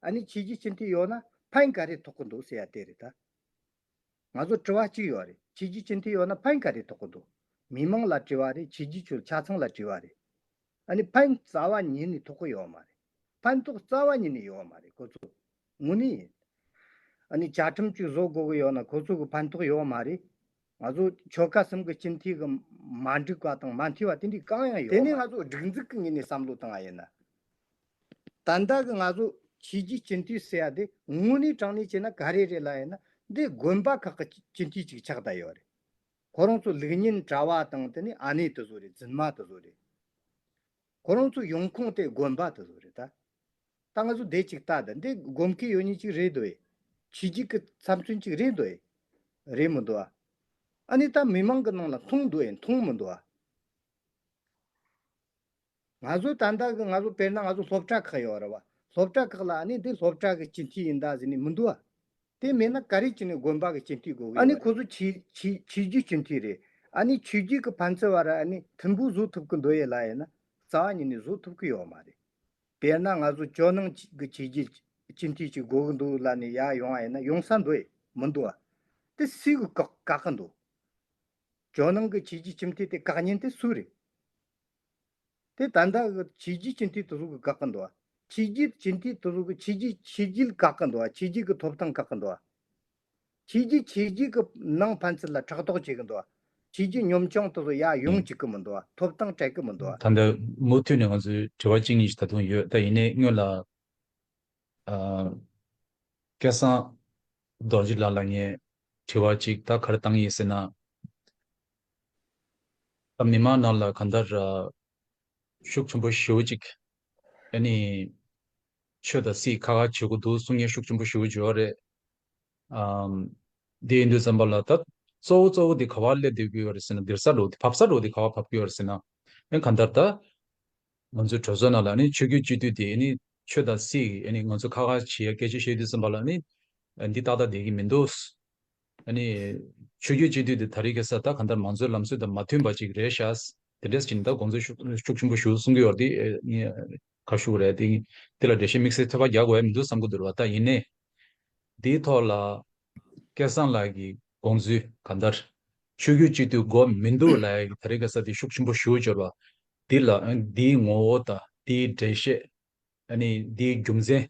ཨ་ནི་ཁྱེད་ཀྱིས་སྤྱི་འཐུས་ཡོང་ན་ཕན་ག་རེ་ཐོག་གི་འདུག་ཟེར་ཡ་དེ་རེད་ད། ང་ཚོར་དྲི་བ་གཅིག་ཡོད་རེད་ཁྱེད་ཀྱིས་སྤྱི་འཐུས་ཡོང་ན་ཕན་ག་རེ་ཐོག་གི་འདུག་མི་མང་ལ་དྲི་བ་རེད་ཁྱེད་ཀྱིས་ཆུ་ཆ་ཚང་ལ་དྲི་བ་རེད། ཨ་ནི་ཕན་རྩ་བ་ཉིད་ནས་ཐོག་གི་ཡོད་མ་རེད་ཕན་ཐོག་རྩ་བ་ཉིད་ནས་ཡོད་མ་རེད་ཁོ་ཚོ་དངོས་གནས་ཡིན། ཨ་ནི་བཅའ་ཁྲིམས་གཅིག་བཟོ་དགོས་གི་ཡོད་ན་ཁོ་ཚོ་གི་ཕན་ཐོག་ཡོད་མ་རེད། ང་ཚོ་ཆོལ་ཁ་གསུམ་གྱི་སྤྱི་འཐུས་ཀྱི་མ་འགྲིག་པ་དང་མ་འཐུས་པ་དེ་འདྲའི་གང་ཡང་ཡོད་མ་རེད། དེ་ནི་ང་ཚོ་སྒྲིག་འཛུགས་ཀྱི་ངོས་ནས་བསམ་བློ་བཏང་བ་ཡིན། ད་ལྟ་གི་ང་ཚོ་ཕྱིས་ཀྱི་སྤྱི་འཐུས་ཟེར་བ་དེ་དངོས་གནས་དྲང་གནས་བྱས་ན་ག་རེ་རེད་ལབ་ཡོད་ན་འདི་དགོན་པ་ཁག་གི་སྤྱི་འཐུས་གཅིག་ཆགས་བསྡད་ཡོད་རེད། ཁོ་རང་ཚོ་ལུགས་ཉན་གྲྭ་བ་དང་དེ་ནི་ཨ་ནེ་དེ་ཚོ་རེད་རྫུན་མ་དེ་ཚོ་རེད། ཁོ་རང་ཚོ་ཡོང་ཁུངས་དེ་དགོན་པ་དེ་ཚོ་རེད་ད། ད་ང་ཚོ་འདས་ཅིག་ལྟ་ད་འདི་སྒོམ་མཁན་ཡོད་ཉིས་ཅིག་རེད་འདུག་ཨེ། བྱེས་ཀྱི་ཀི་ཚབ་མཚོན་ཅིག་རེད་འདུག་ཨེ། རེད་མི་འདུག་ཨ། ཨ་ནི་ད་མི་མང་གི་ནང་ལ་མཐོང་འདུག་ཨེ་མཐོང་མི་འདུག་ཨ། ང་ཚོ་ད་ལྟ་གི་ང་ཚོ་དཔེར་ན་ང་ཚོ་སློབ་གྲྭ་ཁག་ཡོད་རེད་བ། སློབ་གྲྭ་ཁག་ལ་ཨ་ནི་འདི་སློབ་གྲྭ་གི་སྤྱི་འཐུས་ཡིན་ད་ཟེར་ནི་མི་འདུག་ཨ། དེ་མེད་ན་ག་རེ་བྱས་ནས་དགོན་པ་གི་སྤྱི་འཐུས་དགོས་ཨ་ནི་ཁོ་ཚོ་ཆོས་རྒྱུད་སྤྱི་འཐུས་རེད་ཨ་ནི་ཆོས་རྒྱུད་གི་ཕན་ཚུན་བར་ཨ་ནི་མཐུན་པོ་བཟོ་ཐུབ་གི་འདོད་ཡས་ལ་ཡས་ན་རྩ་བ་ཉིད་ནས་བཟོ་ཐུབ་གི་ཡོག་མ་རེད་དཔེར་ན་ང་ཚོ་ཇོ་ནང་གི་ཆོས་རྒྱུད་སྤྱི་འཐུས་ཅིག་དགོས་གི་འདུག་ལ་ནི་ཡག་ཡོང་བ་ཡས་ན་ཡོང་ས་འདོད་ཡས་མི་འདུག་ཨ་དེ་སུས་གི་བཀག་གི་འདུག་ཇོ་ནང་གི་ཆོས་རྒྱུད་སྤྱི་འཐུས་དེ་བཀག་ཉེན་དེ་སུ་རེད། དེ་ད་ལྟ་བྱས་རྗེས་ཀྱི་མཐིལ་དུ་རུ་གུ་འགག་གི་འདུག་བྱས་རྗེས་ཀྱི་མཐིལ་དུ་རུ་གུ་བྱས་རྗེས་བྱས་རྗེས་ལ་འགག་གི་འདུག་བྱས་རྗེས་ཀྱི་ཐོབ་ཐང་འགག་གི་འདུག་བྱས་རྗེས་བྱས་རྗེས་ཀྱི་ནང་ཕན་ཚུན་ལ་ཕྲག་དོག་བྱེད་ཀྱི་འདུག་བྱས་རྗེས་གཉོམ་ཆུང་དེ་ཚོ་ཡར་ཡོང་བྱེད་ཀྱི་མི་འདུག་ཐོབ་ཐང་སྤྲད་ཀྱི་མི་འདུག། ད་ལྟ་མུ་མཐུད་ནས་ང་ཚོའི་དྲི་བ་གཅིག་གཉིས་ཤིག་ད་དུང་ཡོད་ད་ཡིན་ནས་སྔོན་ལ། སྐལ་བཟང་རྡོ་རྗེ་ལགས་ལ་ངས་དྲི་བ་གཅིག་ད་ག་རེ་བཏང་ཡིན་ཟེར་ན། མི་དམངས་རྣམས་ལ་གང་ལྟར། ཤུགས་ཆེན་པོ་ཞུ་ཅིག། ཨེ་ནི། ཆོས་དང་སྲིད་ཁ་ཁ་བྱེད་དགོས་འདུག་གསུང་སྙན་ཤུགས་ཆེན་པོ་ཞུ་བཞེས་བ་རེད། འདི་འདི་ཙམ་པ་ལ་ད་གཙོ་བོ་གཙོ་བོ་འདི་ག་བར་སླེབས་དགོས་བ་རེད་ཟེར་ན་འདིར་ས་རུ་བབས་ས་རུ་འདི་ག་བར་བབས་དགོས་བ་རེད་ཟེར་ན། ཨེ་གང་ལྟར་ད། ང་ཚོའི་གྲོས་ཚོགས་ནང་ལ་ནི་ཆོས་རྒྱུད་སྤྱི་འཐུས་དེ་ནི་ཆོས་དང་སྲིད་ཨེ་ནི་ང་ཚོ་ཁ་ཁ་བྱེད་ཡ་སྐད་ཆ་བཤད་དུས་ཙམ་པ་ལ་ནི། འདི་ཏག་ཏག་བསྡད་ཀྱི་མི་འདུག། ཆོས་རྒྱུད་སྤྱི་འཐུས་དེ་ད་རེས་ཀྱི་ས་རྟགས་གང་ལྟར་མང་གཙོའི་ལམ་སྲོལ་དང་མ་མཐུན་པ་ཅིག་རེད་ཤག། དེ་འདྲས་སུ་ཇི་ལྟར་དགོངས་ཚུལ་ཤུགས་ཆེན་པོ་ཞུ་གསུང་གི་ཡོད་དེ། ཁ་ཤུ་རེད་དེ། དེ་ལ་འགྲེལ་བཤད་དམིགས་བསལ་ཐོལ་བ་རྒྱག་དགོས་ཡ་མི་འདུག་བསམ་གི་འདུག་ལ་ད་ཡིན་ནའི། དེའི་ཐོག་ལ། སྐལ་བཟང་ལགས་ཀྱི་དགོངས་ཚུལ་གང་ལྟར། ཆོས་རྒྱུད་སྤྱི་འཐུས་དགོས་མི་འདུག་ལ་ཡ་གི་ད་རེས་ཀྱི་ས་དེ་ཤུགས་ཆེན་པོ་ཞུ་བཅོལ་བ། དེ་ལ་དེའི་ངོ་བོ་དང་དེའི་འགྲེལ་བཤད། དེའི་རྒྱུ་མཚན།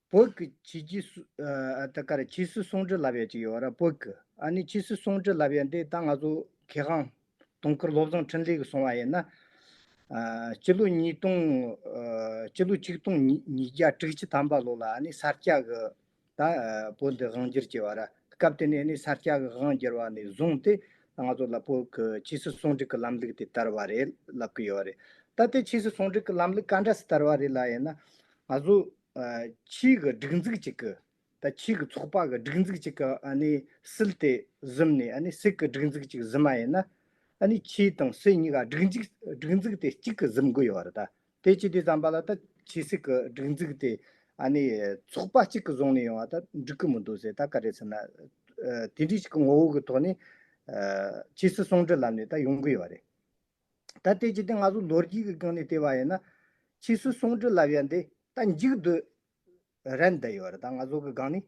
བོད་ཀྱི་ཕྱི་སྐྱི་སུད་ཀར་ཕྱི་སུད་སུང་ཀྲི་ལབ་ཡ་གཅིག་ཡོད་ར་བོད་ཀྱི་ཨ་ནི་ཕྱི་སུད་སུང་ཀྲི་ལབ་ཡ་འདི་ད་ང་ཚོ་གྷེ་ཁང་དུང་ཁུར་སློབ་ཚོང་ཕྲིན་ལས་གི་སོང་བ་ཡིན་ན་སྤྱི་ལོ་ཉིས་སྟོང་སྤྱི་ལོ་ཆིག་སྟོང་ཉིས་བརྒྱ་དྲུག་ཅུ་ཐམ་པ་ལོ་ལ་ཨ་ནི་ས་སྐྱ་གི་ད་བོད་འདི་དབང་སྒྱུར་བྱས་བ་ར་སྐབས་དེ་ནས་ནི་ས་སྐྱ་གི་དབང་སྒྱུར་བ་ནས་བཟུང་སྟེ་ད་ང་ཚོ་ལ་བོད་ཀྱི་ཕྱི་སུད་སུང་ཀྲི་གི་ལམ་ལུགས་དེ་དར་བ་རེད་ལབ་གི་ཡོད་རེད་ད་དེ་ཕྱི་སུད་སུང་ཀྲི་གི་ལམ་ལུགས་ག་འདྲ་སི་དར་བ་རེད་ལ་ཡིན་ན་ང་ཚོ། ཕྱིའི་གི་སྒྲིག་འཛུགས་གཅིག་གི་དང་ཕྱིའི་གི་ཚོགས་པ་གི་སྒྲིག་འཛུགས་གཅིག་གི་སིལ་དེ་གཟིམ་ནས་ནི་སིལ་གི་སྒྲིག་འཛུགས་གཅིག་གཟིམ་མ་ཡིན་ན། ནི་ཕྱིའི་དང་སིལ་གཉིས་ཀ་སྒྲིག་འཛུགས་སྒྲིག་འཛུགས་དེ་གཅིག་གི་གཟིམ་དགོས་ཡོད་རེད་ད། དེ་ཅི་དེ་བརྩམས་པ་ལ་ད་ཕྱིའི་སིལ་གི་སྒྲིག་འཛུགས་དེ་ནི་ཚོགས་པ་གཅིག་གི་བཟུང་ནས་ཡོང་བ་ད་འགྲིག་གི་མི་འདུག་ཟེར་ད་ག་རེད་ཟེར་ན། དེ་འདྲི་ཞིག་གི་ངོ་བོ་གི་ཐོག་ནས། ཕྱིའི་སིལ་ཟུང་འབྲེལ་ལམ་ནས་ད་ཡོང་གི་ཡོད་རེད། ད་ལྟའི་ཇི་སྟེ་ང་ཚོ་ལོ་རྒྱུས་ཀྱི་སྒང་ནས་བལྟས་པ་ཡིན་ན། ཕྱིས་སུ་སུང་ཀྲི་ལབ་ཡ་འདི་ད་འཇིག་སྡོད་རན་བསྡད་ཡོད་རེད་ད་ང་ཚོ་གི་སྒང་ནས།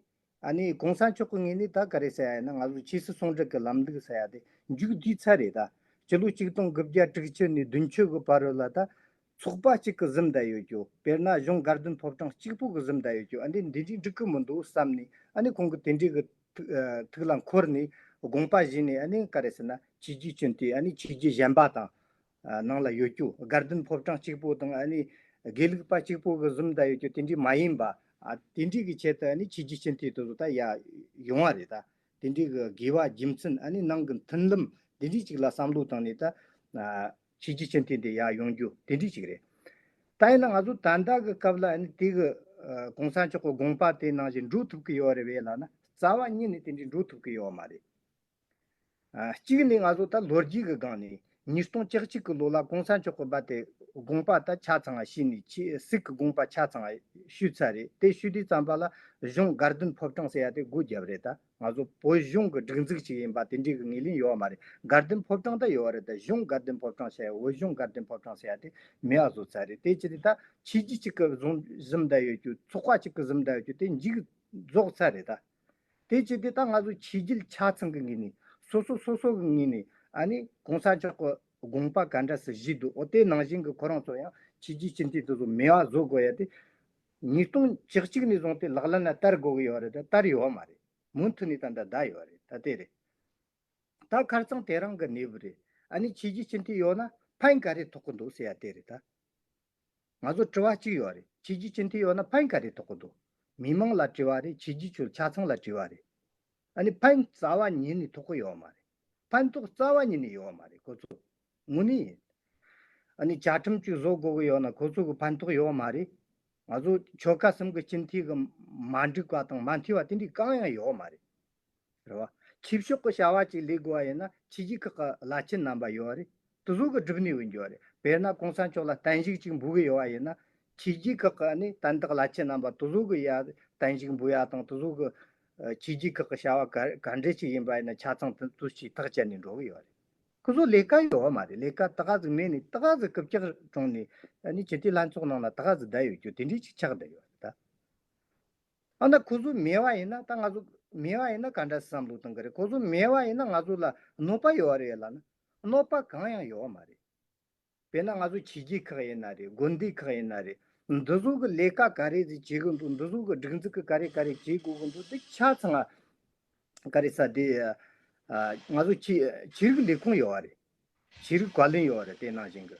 ཨ་ནི་གོང་ས་མཆོག་གི་ངོས་ནས་ད་ག་རེ་ཟེར་ཡ་ཡིན་ན་ང་ཚོ་ཕྱིས་སུ་སུང་ཀྲི་གི་ལམ་འདུག་ཟེར་ཡ་འདི་འཇུག་དུས་ཚར་རེད་ད། སྤྱི་ལོ་གཅིག་སྟོང་དགུ་བརྒྱ་དྲུག་ཅུ་ནས་བདུན་ཅུ་གི་བར་རོལ་ལ་ད། ཚོགས་པ་གཅིག་གི་གཟིམ་བསྡད་ཡོད་རྒྱུ་དཔེར་ན་གཞུང་སྒར་བདུན་ཕོབ་གྲངས་གཅིག་པོ་གི་གཟིམ་བསྡད་ཡོད་རྒྱུ་ཨ་འདི་འདི་འདྲའི་འགྲིག་གི་མི་འདུག་བསམ་ནས་ཨ་ནི་ཁོང་གི་དེ་འདྲའི་གི་ཐུགས་ལ་འཁོར་ནས་དགོངས་པ་བཞེས་ནས་ཨ་ནི་ག་རེ་ཟེར་ན་བྱས་རྗེས་བྱོན་དུས་ཨ་ནི་བྱས་རྗེས་གཞན་པ་དང་ནང་ལ་ཡོད་རྒྱུ་སྒར་བདུན་ཕོབ་གྲངས་གཅིག་པོ་དང་ཨ་ནི་དགེ་ལུགས་པ་གཅིག་པོ་གི་གཟིམ་བསྡད་ཡོད་རྒྱུ་དེ་འདྲའི་མ་ཡིན་པ་དེ་འདྲའི་གི་ཆེད་དུ་ཨ་ནི་བྱས་རྗེས་བྱོན་དུས་དེ་ཚོ་ད་ཡ་ཡོང་བ་རེད་ད་དེ་འདྲའི་གི་དགེ་བ་རྒྱུ་མཚན་ཨ་ནི་ནང་གི་མཐུན་ལམ་དེ་འདྲའི་གཅིག་ལ་བསམ་བློ་བཏང་ནས་ད་བྱས་རྗེས་ཅན་ཐིག་འདི་ཡག་ཡོང་རྒྱུ་དེ་འགྲིག་ཅིག་རེད། ད་ཡིན་ན་ང་ཚོ་ད་ལྟ་གི་སྐབས་ལ་ནི་དེ་གི ྋགོང་ས་མཆོག་གི་དགོངས་པ་དེ་ནང་བཞིན་འགྲུབ་ཐུབ་ཀྱི་ཡོད་རེད་བས་ལ་ན་རྩ་བ་ཉིད་ནས་དེ་འདྲའི་འགྲུབ་ཐུབ་ཀྱི་ཡོད་མ་རེད། གཅིག་ནི་ང་ཚོ་ད་ལོ་རྒྱུས་ཀྱི་སྒང་ནས་ཉིས་སྟོང་ཅག་གཅིག་གི་ལོ་ལ ྋགོང་ས་མཆོག་གི་པ་དེ་དགོངས་པ་ད་ཆ་ཚང་བ་ཤིས་ནས་ཆེས་སིག་གི་དགོངས་པ་ཆ་ཚང་བ་ཤུས་ཚར་རེད་དེ་ཤུས་དུས་ཙམ་པ་ལ་གཞུང་སྒར་དོན་ཕོབ་གྲངས་ཟེར་ཡ་དེ་སྒུག་རྒྱབ་རེད་ད། ང་ཚོ་བོད་གཞུང་གི་སྒྲིག་འཛུགས་ཅིག་ཡིན་པ་དེ་འདྲའི་གི་ངེས་ལེན་ཡོད་མ་རེད་དགར་འདོན་ཕོབ་གྲངས་ད་ཡོད་རེད་ད་གཞུང་དགར་འདོན་ཕོབ་གྲངས་བྱ་ཡ་བོད་གཞུང་དགར་འདོན་ཕོབ་གྲངས་བྱ་ཡ་དེ་མི་ཡག་བཟོ་ཚར་རེད་དེ་ཅི་རེད་ད་ཕྱི་རྒྱུ་གཅིག་གི་བཟུང་གཟིམ་ད་ཡོད་རྒྱུ་ཚོགས་པ་གཅིག་གི་གཟིམ་ད་ཡོད་རྒྱུ་དེ་འཇིག་རྫོགས་ཚར་རེད་ད་དེ་ཅི་རེད་ད་ང་ཚོ་ཕྱི་རྒྱུལ་ཆ་ཚང་གི་ངེས་ནས་སོ་སོ་སོ་སོ་གི་ངེས་ནས་ཨ་ནི་གོང་ས་མཆོག་གི་དགོངས་པ་ག་འདྲ་སི་བཞིས་འདུག་ཨོ་དེ་ནང་བཞིན་གི་ཁོ་རང་ཚོ་ཡང་ཕྱི་རྒྱུལ་སྤྱི་མཐུས་དེ་ཚོ་མི་ཡག་བཟོ་དགོས་ཡ་དེ་ཉིས་སྟོང་བཅུ་གཅིག་ནས་བཟུང་སྟེ་ལག་ལེན་ལ་བསྟར་དགོས་ཀྱི་ཡོད་རེད་ད་བསྟར་ཡོད་མ་རེད་མུ་མཐུད་ནས་ད་འདྲ་གདའ་ཡོད་རེད་ད་དེ་རེད་ད་ཁར་ཚང་དེ་རང་གི་གནས་བབ་རེད་ཨ་ནི་ཁྱེད་ཀྱིས་ཅི་འཐད་ཡོད་ན་ཕན་ག་རེ་ཐོག་གི་འདུག་ཟེར་ཡ་དེ་རེད་ད། ང་ཚོར་དྲི་བ་གཅིག་ཡོད་རེད་ཁྱེད་ཀྱིས་ཅི་འཐད་ཡོད་ན་ཕན་ག་རེ་ཐོག་གི་འདུག་མི་མང་ལ་དྲི་བ་རེད་ཁྱེད་ཀྱིས་ཁྱོད་ཆ་ཚང་ལ་དྲི་བ་རེད། ཨ་ནི་ཕན་རྩ་བ་ཉིད་ནི་ཐོག་གོ་ཡོད་མ་རེད། ཕན་ཐོག་རྩ་བ་ཉིད་ནི་ཡོད་མ་རེད་གོ་ཚོ། ངོ་ནི་ཡིན། ཨ་ནི་བཅའ་ཁྲིམས་གཅིག་བཟོ་དགོས་གི་ཡོད་ན་ཁོ་ཚོ་གི་ཕན་ཐོག་ཡོད་མ་རེད། ང་ཚོ་ཆོལ་ཁ་གསུམ་གི་སྤྱི་མཐིལ་གི་མ་འགྲིག་པ་དང་མ་མཐིལ་བ་དེ་འདྲའི་གང་ཡང་ཡོད་མ་རེད། རེད་བ། ཁྱིབ་ཤོག་གི་བྱ་བ་གཅིག་ལས་དགོས་བ་ཡིན་ན་ཕྱི་རྒྱལ་ཁག་གི་བླ་ཆེན་རྣམ་པ་ཡོད་རེད། དུ་གཟུགས་ཀྱི་སྒྲིབ་གནས་འོས་འགྱུར་བ་རེད། དཔེར་ན་ཀོང་ས་མཆོག་ལ་བསྟན་བཤིག་ཅིག་འབུལ་གྱི་ཡོད་པ་ཡིན་ན། ཁྱེད་རྒྱའི་ཁག་གི་ནི་དན་རྟགས་བླ་ཆེན་རྣམ་པ་དུ་གཟུགས་ཀྱི་ཡ་བསྟན་བཤིག་འབུལ་ཡ་དང་དུ་གཟུགས་ཀྱི། ཁྱེད་རྒྱའི་ཁག་གི་བྱ་བ་ག་ག་འདྲའི་ཅིག་ཡིན་པ་ཡིན་ན་ཆ་ཚང་དུ་དུ་ཞིག་ཐག་བཅད་ནས་འགྲོ་གི་ཡོད་རེད། སྐུ་གཟུགས་ལས་ཀ་ཡོད་མ་རེད་ལས་ཀ་ཏི་ཀ་ཟིག་མེད་ནས་ཏི་ཀ་ཟིག་སྐུ་བཅག་དྲུང་ནས་ནི་ཇི་ཏི་ལྷན་ཚོགས་ནང་ན་ཏི་ཀ་ཟིག་བསྡད་ཡོད་རྒྱུ་དེ་འདྲའི་ཅིག་ཆགས་བསྡད་ཡོད་རེད་ད། ཨ་ན་ཁོ་གཟུགས་མེད་པ་ཡིན་ན་ད་ང་གཟུགས་མེད་པ་ཡིན་ན་ག་འདྲ་སེ་བསམ་བློ་གཏོང་གི་རེད་ཁོ་གཟུགས་མེད་པ་ཡིན་ན་ང་གཟུགས་ལ་གནོད་པ་ཡོད་རེད་ལ་ན། གནོད་པ་གང་ཡང་ཡོད་མ་རེད། དཔེར་ན་ང་ཚོ་བྱེས་སྐྱིད་ཁག་ཡིན་ན་རེད་དགོན་སྡེ་ཁག་ཡིན་ན་རེད་འདི་ཚོ་གི་ལས་ཀ་ག་རེ་ཟིག་བྱེད་གི་འདུག་འདི་ཚོ་གི་སྒྲིག་འཛུགས་གི་ག་རེ་ག་རེ་བྱེད་དགོས་གི་འདུག་འདི་ཆ་ཚང་ག་རེ་ས་དེ། ང་ཚོ་བྱེས་རིགས་ལས་ཁུངས་ཡོད་རེད། བྱེས་རིགས་བཀའ་བློན་ཡོད་རེད་དེ་ནང་བཞིན་གི།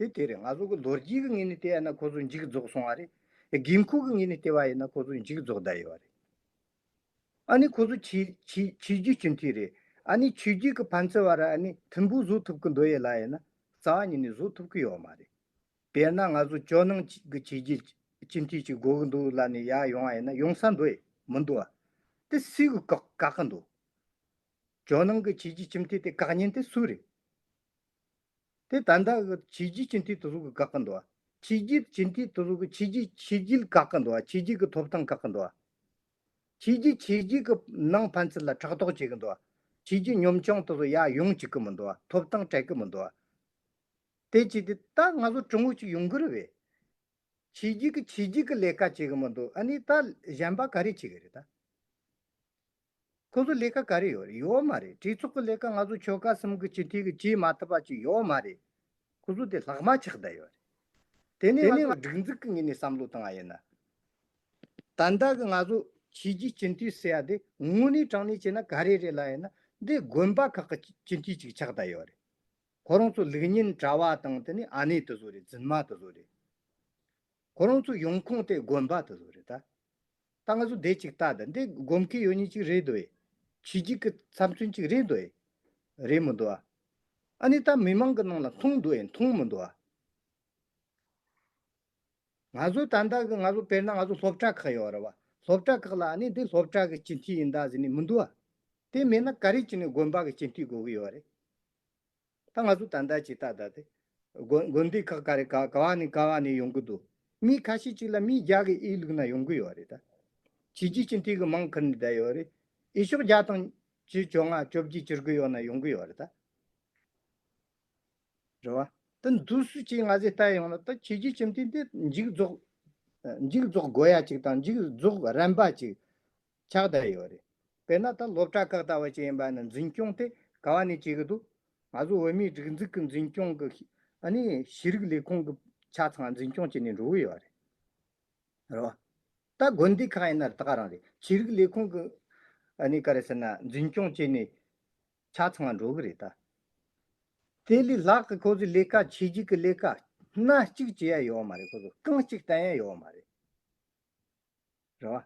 དེ་དེ་རེད་ང་ཚོ་གི་ལོ་རྒྱུས་ཀྱི་ངོས་ནས་བལྟས་ན་ཁོ་ཚོ་འཇིག་རྫོགས་སོང་བ་རེད། དགོས་མཁོ་གི་ངོས་ནས་བལྟས་པ་ཡིན་ན་ཁོ་ཚོ་འཇིག་རྫོགས་གདའ་ཡོད་པ་རེད། ཨ་ནི་ཁོ་ཚོ་ཆོས་རྒྱུད་སྤྱི་མཐུས་རེད། ཨ་ནི་ཆོས་རྒྱུད་ཀྱི་ཕན་ཚུན་བར་ཨ་ནི་མཐུན་པོ་བཟོ་ཐུབ་ཀྱི་འདོད་ཡོད་ལ་ཡིན་ན་རྩ་བ་ཉིད་ནས་བཟོ་ཐུབ་ཀྱི་ཡོད་མ་རེད། དཔེར་ན་ང་ཚོ་ཇོ་ནང་གི་ཆོས་རྒྱུད་སྤྱི་མཐུས་ཅིག་དགོས་ཀྱི་འདུག་ལབ་ནས་ཡར་ཡོང་བ་ཡིན་ན་ཡོང་ས་འདུག་མི་འདུག་ཨ། དེ་སུས་ཀྱི་བཀག་གི་འདུག། ཇོ་ནང་གི་ཆོས་རྒྱུད་སྤྱི་མཐུས་དེ་བཀག་ཉན་དེ་སུ་རེད། དེ་ད་ལྟ་གི་བྱས་རྗེས་ཀྱི་མཐིལ་དུ་རུ་གི་དགག་གི་འདུག་བྱས་རྗེས་ཀྱི་མཐིལ་དུ་རུ་གི་བྱས་རྗེས་བྱས་རྗེས་དགག་གི་འདུག་བྱས་རྗེས་ཀྱི་ཐོབ་ཐང་དགག་གི་འདུག་བྱས་རྗེས་བྱས་རྗེས་ཀྱི་ནང་ཕན་ཚུན་ལ་ཕྲག་དོག་བྱེད་ཀྱི་འདུག་བྱས་རྗེས་གཉོམ་ཆུང་དུ་སུ་ཡང་ཡོང་བྱེད་ཀྱི་མི་འདུག་ཐོབ་ཐང་སྤྲད་ཀྱི་མི་འདུག་དེ་བྱས་ཏེ་ད་ང་ཚོ་གྲོང་ཨུད་ཅིག་ཡོང་གི་རེད་བས། བྱས་རྗེས་ཀྱི་བྱས་རྗེས་ཀྱི་ལས་ཀ་བྱེད་ཀྱི་མི་འདུག་ཨ་ནི་ད་གཞན་པ་ག་རེ་བྱེད་ཀྱི་རེད་ད། ཁོ་ཚོ་ལས་ཀ་ག་རེ་ཡོད་རེད་ཡོད་མ་རེད་གྲོས་ཚོགས་ཀྱི་ལས་ཀ་ང་ཚོ་ཆོལ་ཁ་གསུམ་གྱི་སྤྱི་འཐུས་ཀྱི་བྱེད་མ་ཐུབ་པ་ཅིག་ཡོད་མ་རེད། ཁོ་ཚོ་དེ་ལྷག་མ་ཆགས་བསྡད་ཡོད་རེད། དེ་ནི་ང་ཚོ་སྒྲིག་འཛུགས་ཀྱི་ངོས་ནས་བསམ་བློ་བཏང་བ་ཡིན། ད་ལྟ་གི་ང་ཚོ་ཕྱི་རྒྱལ་སྤྱི་འཐུས་ཟེར་བ་དེ་དངོས་གནས་དྲང་གནས་བྱས་ན་ག་རེ་རེད་ལབ་ཡོད་ན་འདི་དགོན་པ་ཁག་གི་སྤྱི་འཐུས་ཅིག་ཆགས་བསྡད་ཡོད་རེད། ཁོ་རང་ཚོ་ལུགས་གཉིས་གྲྭ་བ་དང་དེ་ནི་ཨ་ནེ་དེ་ཚོ་རེད་རྫུན་མ་དེ་ཚོ་རེད། ཁོ་རང་ཚོ་ཡོང་ཁུངས་དེ་དགོན་པ་དེ་ཚོ་རེད་ད། ད་ང་ཚོ་འདས་ཅིག་ལྟ་དང་འདི་སྒོམ་གི་ཡོད་ཉིད་ཅིག་རེད་འདོད། བྱེད་ཀྱི་གི་ཚབ་མཚོན་ཅིག་རེད་འདོད། རེད་མི་འདུག་ཨ། ཨ་ནི་ད་མི་མང་གི་ནང་ལ་མཐོང་འདུག་ཨེ་མཐོང་མི་འདུག་ཨ། ང་ཚོ་ད་ལྟ་གི་ང་ཚོ་དཔེར་ན་ང་ཚོ་སློབ་གྲྭ་ཁག་ཡོད་རེད་བ། སློབ་གྲྭ་ཁག་ལ་ཨ་ནི་འདི་སློབ་གྲྭ་གི་སྤྱི་འཐུས་ཡིན་ད་ཟེར་ནི་མི་འདུག་ཨ། དེ་མེད་ན་ག་རེ་བྱས་ནས་དགོན་པ་གི་སྤྱི་འཐུས་དགོས་གི་ཡོད་རེད། ད་ང་ཚོ་ད་ལྟ་ཇི་ལྟ་ལྟ་སྟེ། དགོན་སྡེ་ཁག་ག་རེ་ག་ག་བ་ནས་ག་བ་ནས་ཡོང་གི་འདུག་མི་ཁ་ཤས་ཅིག་ལ་མི་བརྒྱ་གི་ཨེ་ལུག་ན་ཡོང་གི་ཡོད་རེད་ད། བྱིས་རྒྱུད་ཅི་འཐུས་ཀྱི་མང་ཁུར་ནས་བསྡད་ཡོད་རེད། ཨེ་ཤོག་བརྒྱ་དང། བཅུ་བཅོ་ལྔ་བཅོ་བརྒྱད་གྱུར་གི་ཡོད་ན་ཡོང་གི་ཡོད་རེད་ད། རེད་བ། ད་འདུག་སུ་གཅིག་ང་ཚོའི་ལྟ་ཡོང་ན་ད་བྱིས་རྒྱུད་ཅི་འཐུས་འདི་འཇིགས་རྫོགས། འཇིགས་རྫོགས་དགོས་ཡ་ཅིག་དང་འཇིགས་རྫོགས་རན་པ་ཅིག། ཆགས་བསྡད་ཡོད་རེད། དཔེར་ན་ད་སློབ་གྲྭ་ཁག་ལྟ་བ་ཅན་ཡིན་པ་ནི་འཛིན་སྐྱོང་དེ་ག་བ་ནས་བྱེད་ཀྱི་འདུག་ང་ཚོ་བོད་མིའི་སྒྲིག་འཛུགས་ཀྱི་འཛིན་སྐྱོང་གི་གཞི་རིགས་ལས་ཁུངས་ཀྱི་ཆ་ཚང་འཛིན་སྐྱོང་བྱས་ནས་འགྲོ་གི་ཡོད་རེད། ད་དགོན་སྡེ་ཁག་ཡིན་ན་ད་ག་རང་རེད་ཆོས་རིགས་ལས་ཁུངས་ཀྱི་ག་རེ་ཟེར་ན་འཛིན་སྐྱོང་བྱས་ནས་ཆ་ཚང་འགྲོ་གི་རེད། དེ་ལས་ལྷག་གི་ཁོ་ཚོས་ལས་ཀ་བྱེད་རྒྱུ་གི་ལས་ཀ་སྣ་གཅིག་བྱེད་ཡ་ཡོད་མ་རེད་ཁོ་ཚོ་རྐང་གཅིག་བསྟན་ཡ་ཡོད་མ་རེད། རེད་བ།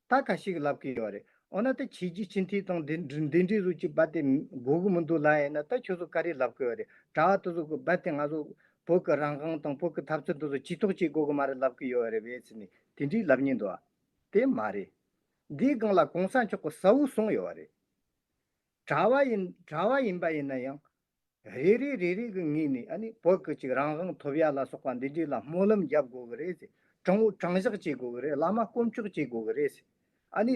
ད་ག་ཞིག་ལབ་གི་ཡོད་རེད་འོ་ན་ད་ཁྱེད་ཀྱིས་སྤྱི་འཐུས་ཚང་འདི་འདི་འདྲི་རུ་ཅིག་བ་དེ་གོ་གི་མི་འདུག་ལ་ཡིན་ན་ད་ཁྱོད་ཚོ་ག་རེ་ལབ་གི་ཡོད་རེད་དྲ་བ་དེ་ཚོ་གི་བ་དེ་ང་ཚོ་བོད་གི་རང་དབང་དང་བོད་གི་ཐབས་རྩོད་དེ་ཚོ་ཇི་ཐོག་ཅིག་གོ་གི་མ་རེད་ལབ་གི་ཡོད་རེད་བས་ཚེ་ནི་དེ་འདྲི་ལབ་ཉེན་འདུག་བ། དེ་མ་རེད། འདིའི་སྒང་ལ་གོང་ས་མཆོག་གི་ས་བོ་གསུངས་ཡོད་བ་རེད། དྲ་བ་ཡིན་དྲ་བ་ཡིན་པ་ཡིན་ན་ཡང་རེ་རེ་རེ་རེ་གི་ངོས་ནས་ནི་བོད་སྐད་ཅིག་རང་དབང་ཐོབ་ཡ་ལ་སོགས་པ་འདི་འདྲའི་ལ་སྨོན་ལམ་རྒྱབ་དགོས་ཀྱི་རེད། དྲང་བོ་དྲང་བཞག་བྱེད་དགོས་ཀྱི་རེད་བླ་མ་བསྐོ་འཁྱོག་བྱེད་དགོས་ཀྱི་རེད། ཨ་ནི།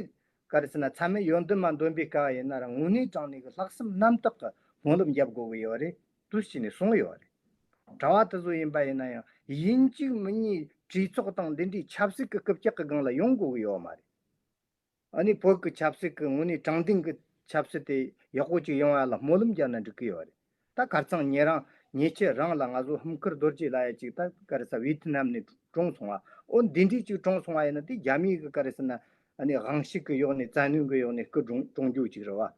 གལ་སྲིད་ན་ཚད་མའི་ཡོན་ཏན་མ་འདོན་པའི་སྐལ་བ་ཡིན་ན་རང་ངོས་ནས་དྲང་གནས་ཀྱི་ལྷག་བསམ་རྣམ་དག་གི་སྨོན་ལམ་རྒྱབ་དགོས་ཀྱི་ཡོད་རེད་དུ་བྱས་ནས་གསུངས་ཡོད་རེད། དྲ་བ་དེ་ཚོ་ཡིན་པ་ཡིན་ན་ཡང་ཡིན་གཅིག་མིན་གཉིས་གྲོས་ཚོགས་དང་འདི་འདྲའི་ཆབ་སྲིད་ཀྱི་རྐུབ་བཀྱག་གི་སྒང་ལ་ཡོང་དགོས་ཀྱི་ཡོད་མ་རེད། ཨ་ནི་བོད་ཀྱི་ཆབ་སྲིད་ཀྱི་ངོས་ནས་དྲང་བདེན་གྱི་ཆབ་སྲིད་དེ་ཡག་པོ་ཅིག་ཡོང་ཡ་ལ་སྨོན་ལམ་རྒྱག་ན་འགྲིག་གི་ཡོད་རེད་ད་གར་ཚང་ཉེ་རང་ཉེ་ཁྱེད་རང་ལ་ང་ཚོ་ཧུམ་ཁར་རྡོ་རྗེ་ལ་ཡ་ཅིག་ད་ཀར་ས་བྷི་ཐི་ནམ་ནས་གྲོངས་སོང་བ་ཨོ་འདི་འདྲས་ཅིག་གྲོངས་སོང་བ་ཡིན་ན་དེ་རྒྱ་མི་ཡི་གི་ཀར་ས་ན་ཨ་ནི་དབང་ཤིག་གི་གཡོག་ནས་རྩ་ནུས་གི་གཡོག་ནས་ཀི་གྲོངས་གྱུག་ཅིག་རེད་བ།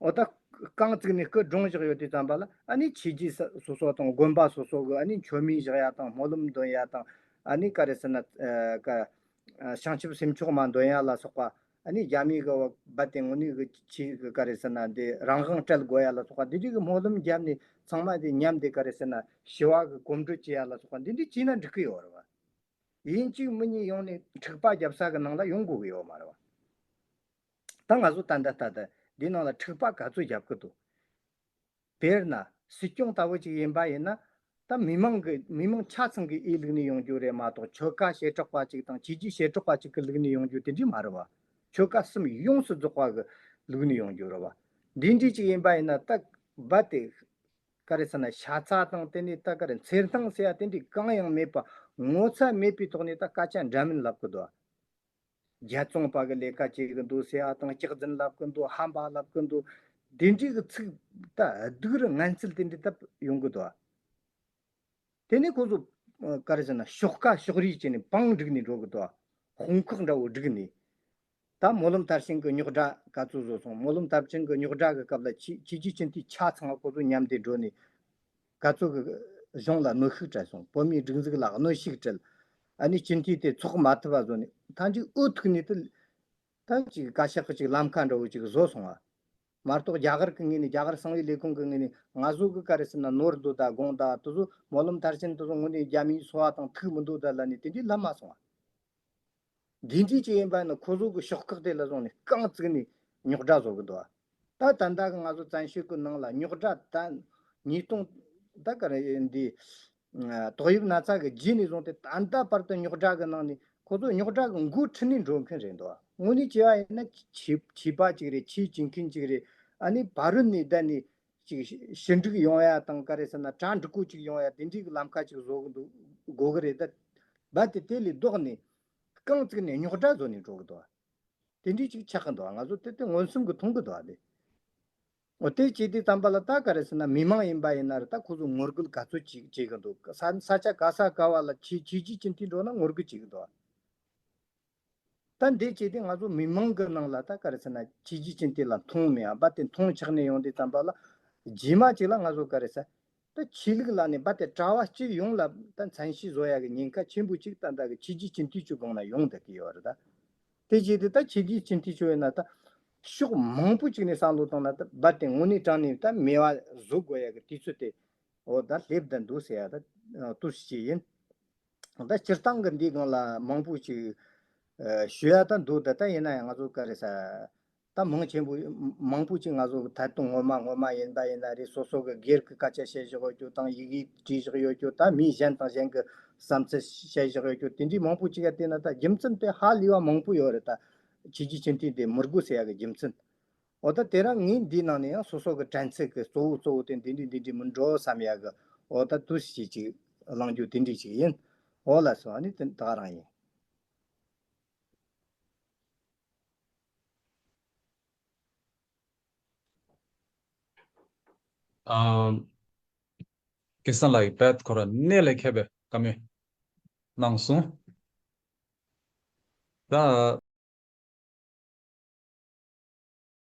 འོ་ད། རྐང་བཙུགས་ནས་སྐུ་སྒྲུང་བཞག་ཡོད་དུས་བརྩམས་པ་ལ་ཨ་ནི་བྱས་རྗེས་ས་སོ་སོ་དང་དགོན་པ་སོ་སོ་གི་ཨ་ནི་འཆོལ་མིང་བཞག་ཡ་དང་སྨོན་ལམ་འདོན་ཡ་དང་ཨ་ནི་ཀ་རེ་ཟེར་ན། ཀ། བྱང་ཆུབ་སེམས་མཆོག་མ་འདོན་ཡ་ལ་སོགས་པ། ཨ་ནི་རྒྱ་མི་གི་བ་བ་དེ་ངོ་ནི་གི་ཆི་གི་ཀ་རེ་ཟེར་ན་འདི་རང་དབང་སྤྲད་དགོས་ཡ་ལ་སོགས་པ་འདི་འདྲི་གི་སྨོན་ལམ་རྒྱབ་ནས་ཚང་མ་དེ་ཉམས་དེ་ཀ་རེ་ཟེར་ན་ཞི་བ་གི་གོམ་བགྲོད་བྱེད་ཡ་ལ་སོགས་པ་འདི་འདྲི་བྱས་ན་འགྲིག་གི་ཡོད་རེད་བ། ཡིན་གཅིག་མི་གཉིས་ཡོང་ནས་འཁྲིག་པ་རྒྱབ་ས་གི་ནང་ལ་ཡོང་དགོས་གི་ཡོད་མ་རེད་བ། ད་ང་ཚོ་ཏན་ཏན་ཏན་ཏན་འདི་ནང་ལ་འཁྲིག་པ་ག་ཚོད་བརྒྱབ་ཀི་འདུག་དཔེར་ན་སྲིད་སྐྱོང་ལྟ་བུ་ཅིག་ཡིན་པ་ཡིན་ན་ད་མི་མང་གི་མི་མང་ཆ་ཚང་གི་ཨི་ལུགས་ནས་ཡོང་རྒྱུ་རེད་མ་གཏོགས་ཆོལ་ཁ་ཞེ་དྲག་པ་ཅིག་དང་བྱེས་ཀྱི་ཞེ་དྲག་པ་ཅིག་གི་ལུགས་ནས་ཡོང་རྒྱུ་དེ་འདྲས་མ་རེད་བ། ཆོལ་ཁ་གསུམ་ཡོངས་སུ་རྫོགས་པ་གི་ལུགས་ནས་ཡོང་རྒྱུ་རེད་བ། འདི་འདྲས་ཅིག་ཡིན་པ་ཡིན་ན་ད་རྦ་དེ་ག་རེ་ཟེར་ན་ཤ་ཚ་དང་དེ་ནས་ད་ག་རེ་འཚེར་སྣང་ཟེར་ཡ་དེ་འདྲས་གང་ཡང་མེད་པ་ངོ་ཚ་མེད་པའི་ཐོག་ནས་ད་སྐད་ཆ་འདྲ་མིན་ལབ་ཀི་འདུག་རྒྱལ་བཙོང་པ་གི་ལས་ཀ་བྱེད་གི་འདུག་སེ་ཨ་དང་ལྕགས་འཛིན་ལབ་གི་འདུག་ཧམ་བག་ལབ་གི་འདུག་དེ་འདྲི་གི་ཚིག་ད་སྡུག་རི་ངན་ཚིལ་དེ་འདྲི་ད་ཡོང་གི་འདུག་དེ་ནས་ཁོ་ཚོ་ཀར་བཞིན་ན་ཤོག་ཀ་ཤོག་རིས་བྱས་ནས་པང་བསྒྲིགས་ནས་འགྲོ་གི་འདུག་ཧོང་ཁག་འདྲ་བོ་བསྒྲིགས་ནས། ད་མོ་ལུམ་དར་ཤིང་གི་རྙོག་སྒྲ་ག་ཚོད་བཟོ་སོང་མོ་ལུམ་དར་ཆིང་གི་རྙོག་སྒྲ་གི་སྐབས་ལ་ཁྱེད་ཀྱི་ཁྱིམ་མཐུན་ཆ་ཚང་ཁོ་ཚོ་མཉམ་དེ་འགྲོ་ནས་སྐར་ཚོགས་ཀྱི་གཞུང་ལ་གནོད་ཤུགས་བྲལ་སོང། བོད་མིའི་སྒྲིག་འཛུགས་ལ་གནོད་ཤུགས་བྲལ། ཨ་ནི་སྤྱི་འཐུས་དེ་ཚོགས་མ་ཐུབ་པ་བཟོ་ནས་ཐ་ཇིག་ཨུ་ཐུག་ནས་དེ་ད་ཅིག་བཀའ་ཤག་ཅིག་ལམ་ཁ་འདྲ་བོ་ཅིག་བཟོ་སོང་བ། མ་གཏོགས་རྒྱ་གར་གྱི་ངོས་ནས་རྒྱ་གར་གསང་བའི་ལས་ཁུངས་ཀྱི་ངོས་ནས་ང་བཟོ་གི་ཀ་རེ་ཟེར་ན་ནོར་འདུག་ད་དགོངས་དག་དེ་ཚོ་མོ་ལོམ་མཐར་ཕྱིན་དེ་ཚོ་ངོ་ནས་རྒྱ་མིའི་འཚོ་བ་དང་ཐུག་མི་འདུག་ད་ལ་ནས་དེ་འདྲའི་ལབ་མ་སོང་བ། རྒྱུ་མཚན་ཅི་ཡིན་པ་ནི་ཁོ་ཚོ་གི་ཤོག་ཁག་དེ་ལ་བཟུང་ནས་རྐང་བཙུགས་ནས་རྙོག་དྲ་བཟོ་གི་འདུག་ད་ད་ལྟ་ང་ཚོ་བཙན་ཤོད་ཀྱི་ནང་ལ་རྙོག་དྲ་ད་ཉིས་སྟོང་ད་ག་རེད་འདི་ཏོག་དབྱིབས་ན་ཚ་གི་རྗེས་ནས་བཟུང་སྟེ་ད་ལྟ་བར་དུ་རྙོག་དྲ་གི་ནང་ནས་ཁོ་ཚོ་རྙོག་དྲ་གི་འགོ་ཁྲིད་ནས་འགྲོ་མཁན་རེད་འདུག་དངོས་གནས་བྱས་པ་ཡིན་ན་བྱིས་པ་གཅིག་རེད་ཕྱིའི་བྱེད་མཁན་གཅིག་རེད་ཨ་ནི་བ་རུ་ནས་བསྡད་ནས་ཅིག་ཞི་འགྲིག་ཡོང་ཡ་དང་ག་རེ་ཟེར་ན་གྲ་འགྲིག་གོ་ཅིག་ཡོང་ཡ་དེ་འདྲའི་གི་ལམ་ཁ་ཅིག་བཟོ་གི་འདུག་དགོས་གི་རེད་ད་དེ་དེ་ལས་ལྡོག་ནས་རྐང་བརྩིག་ནས་རྙོག་གྲ་བཟོ་ནས་འགྲོ་གི་འདུག་དེ་འདྲའི་ཅིག་ཆགས་གི་འདུག་ང་ཚོ་དེ་དེ་མངོན་སུམ་གི་མཐོང་གི་འདུག་དེ་ཨོ་དེ་བྱས་དེ་བརྩམས་པ་ལ་ད་ག་རེ་ཟེར་ན་མི་མང་ཡིན་པ་ཡིན་ན་རེ་ད་ཁོ་ཚོ་ངོ་རྒོལ་ག་ཚོད་ཅིག་བྱེད་གི་འདུག་ས་ཆ་ག་ས་ག་བ་ལ་བྱེད་བྱེད་བྱེད་ཀྱིན་དེ་འགྲོ་ན་ངོ་རྒོལ་བྱེད་གི་འདུག། ད་འདི་བྱས་ཏེ་ང་ཚོ་མི་མང་གི་ནང་ལ་ད་ག་རེ་ཟེར་ན་ཇི་བྱས་ཅན་དེ་ལ་མཐོང་མི་ཡང་བ་དེ་མཐོང་ཆགས་ནས་ཡོང་དེ་ཙམ་པ་ལ་རྗེས་མ་ཅིག་ལ་ང་ཚོ་ག་རེ་ཟེར་ད་ཆོས་ལུགས་ལ་ནས་བ་དེ་གྲྭ་བ་སྤྱི་ཡོངས་ལ་ད་མཚན་གཞི་བཟོ་ཡ་གི་ཉེན་ཁ་ཆེན་པོ་ཅིག་ད་ད་གི་ཇི་བྱས་ཅན་དུས་ཆུ་སྒང་ན་ཡོང་ད་གི་ཡོད་རེད་ད་དེ་བྱས་ཏེ་ད་ཇི་བྱས་ཅན་དུས་ཆུ་ཡོད་ན་ད་ཕྱོགས་མང་པོ་ཅིག་ནས་བསམ་བློ་བཏང་ན་ད་བ་དེ་ངོ་ནས་དྲང་ནས་ད་མེ་བ་བཟོ་དགོས་ཡ་གི་དུས་ཚོད་དེ་འོ་ད་སླེབས་ད་འདུག་ཟེར་ཡ་ད་ཏུ་ཞིག་ཡིན། ད་སྤྱིར་བཏང་གི་འདི་གང་ལ་མང་པོ་ཞིག་ཞུ་ཡ་ད་འདུག་ད་ལྟ་ཡིན་ན་ཡང་ང་ཚོ་ཀ་རེ་ས་ད་མང་ཆེན་པོ་མང་པོ་ཅིག་ང་ཚོ་ད་དུང་ངོ་མ་ངོ་མ་ཡིན་ད་ཡིན་ན་རེ་སོ་སོ་གི་སྒེར་གི་སྐད་ཆ་བཤད་བཞག་ཡོད་རྒྱུ་དང་ཡིག་ཡིག་བྲིས་བཞག་ཡོད་རྒྱུ་ད་མི་གཞན་དང་གཞན་གི་བསམ་ཚུལ་བཤད་བཞག་ཡོད་རྒྱུ་དེ་འདྲའི་མང་པོ་ཅིག་ཡ་བལྟས་ན་ད་རྒྱུ་མཚན་དེ་ཧ་ལས་བ་མང་པོ་ཡོད་རེད་ད་ཁྱེད་ཀྱི་སྤྱི་མཐུས་དེ་མུར་དགོས་ཟེར་ཡ་གི་རྒྱུ་མཚན་འོ་ད་དེ་རང་ངེད་འདིའི་ནང་ནས་ཡང་སོ་སོ་གི་དྲན་ཚེགས་གི་གཙོ་བོ་གཙོ་བོ་དེ་འདི་འདྲི་འདི་འདྲི་མི་འགྲོ་བསམ་ཡག་གི་འོ་ད་དུ་ཞིག་ཅིག་བླང་རྒྱུ་དེ་འདྲི་ཞིག་ཡིན་འོ་ལ་སོ་ནི་དེ་དག་རང་ཡིན། ཀེ་སང་ལགས་ཀྱི་བེད་ཁོ་ར་ནའི་ལས་ཁད་པའི་བཀའ་མོལ་གནང་སོང་ད།